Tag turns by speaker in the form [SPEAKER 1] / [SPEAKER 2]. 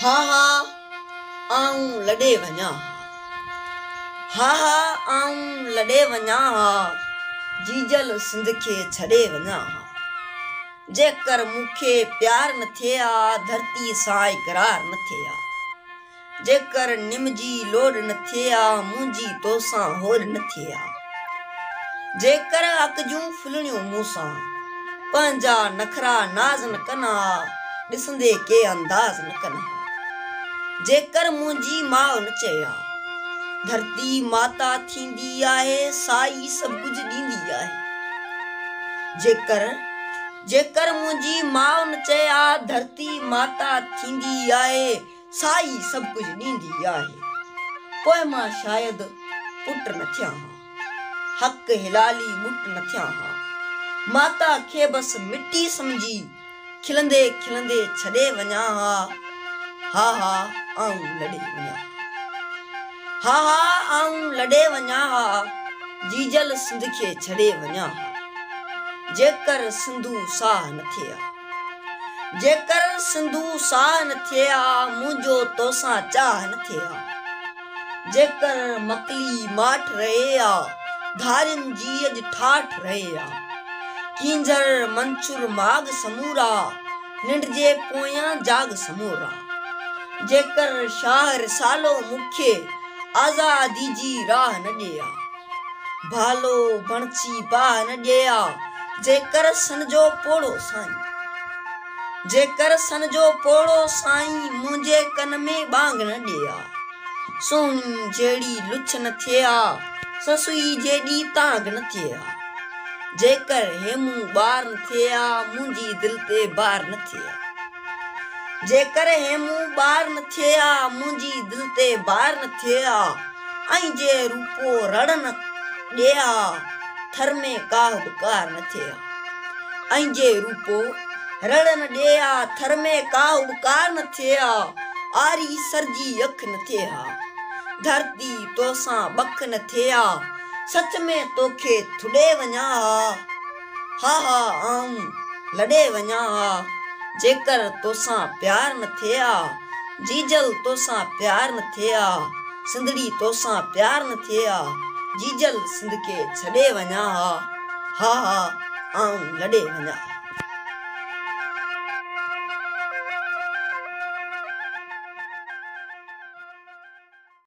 [SPEAKER 1] ها ها آئون لڏي وڃان ها ها آئون لڏي وڃان ها جيجل سنڌ کي ڇڏي وڃان ها جيڪر مون کي پيار نه ٿئي ها ڌرتي سان اقرار نه ٿئي ها. جيڪر نم جي لوڏ نه ٿئي ها، منهنجي توسان هوڏ نه ٿئي ها. جيڪر اک جون ڦلڻيون مون سان، پنهنجا نخرا ناز نه ڪن ها، ڏسندي ڪي انداز نه ڪن ها. جيڪر منهنجي ماء نه چئي ها، ڌرتي ماتا ٿيندي آهي، سائي سڀ ڪجهه ڏيندي آهي. جيڪر، جيڪر منهنجي ماء نه چئي ها، ڌرتي ماتا ٿيندي آهي. سائي سڀ ڪجهه ڏيندي آهي. پوء مان شايد پٽ نه ٿيان ها. حق حلالي ٻٽ نه ٿيان ها. ماتا کي بس مٽي سمجهي کلندي کلندي ڇڏي وڃان ها. ها ها آئون لڏي وڃان ها. ها ها آئون لڏي وڃان ها. جيجل سنڌ کي ڇڏي وڃان ها. جيڪر سنڌو ساهه نه ٿئي ها. جيڪر سنڌو ساهه نه ٿئي ها، منهنجو توسان چاهه نه ٿئي ها. جيڪر مڪلي ماٺ رهي ها، ڌارين جي اڄ ٺاٺ رهي ها. ڪينجهر منڇر ماڳ سمورا، ننڊجي پويان جاڳ سمورا. جيڪر شاهه رسالو مون کي، آزادي جي راهه نه ڏئي ها. ڀالو بڻجي باهه نه ڏئي آ، جيڪر سن جو پوڙهو سائين. جيڪر سن جو پوڙهو سائين، منهنجي ڪن ۾ ٻانگ نه ڏئي آ. سهڻي جهڙي لڇ نه ٿئي آ، سسئي جيڏي تانگ نه ٿئي آ. جيڪر هيمون ٻار نه ٿئي آ، منهنجي دل تي بار نه ٿئي آ. جيڪر هي مون ٻار نه ٿئي ها، منهنجي دل تي بار نه ٿئي ها، ۽ جي روپو رڙ نه ڏئي ها، ٿر ۾ ڪاهه به ڪار نه ٿئي ها. ۽ جي روپو رڙ نه ڏئي ها، ٿر ۾ ڪاهه به ڪار نه ٿئي ها، آري سر جي اک نه ٿئي ها، ڌرتي تو سان ٻک نه ٿئي ها، سچ ۾ توکي ٿڏي وڃان ها. ها ها آئون لڏي وڃان ها جيڪر توسان پيار نه ٿئي ها جيجل توسان پيار نه ٿئي ها سنڌڙي توسان پيار نه ٿئي ها جيجل سنڌ کي ڇڏي وڃان ها ها ها آئون لڏي وڃان ها.